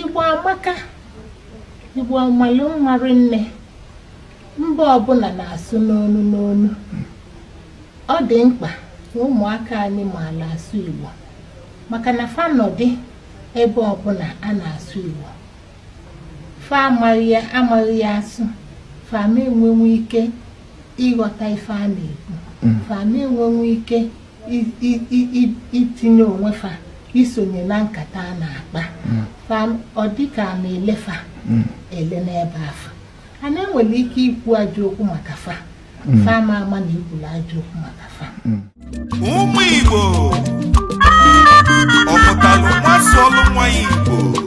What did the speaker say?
Igbo amaka Igbo amalụ mma rinne mba ọbụna na-asụ n'onu n'onu ọ dị mkpa na ụmụaka anyị maala asụ Igbo maka na fa nọdị ebe ọbụna a na-asụ Igbo fa amaghị ya asụ fa ama enwenwe ike ịghọta ife a na-ekwu mm. fa ama enwenwe ike itinye onwe fa isonye na nkata a na-akpa hmm. ọ dịka a na-ele fa hmm. ele n'ebe afụ a nọ e nwere ike ikwu ajọ okwu maka fa hmm. fa ama ama na i kwuru ajọ okwu maka fa ụmụ Igbo ọmụtalụ nwa sụọlụ nwa Igbo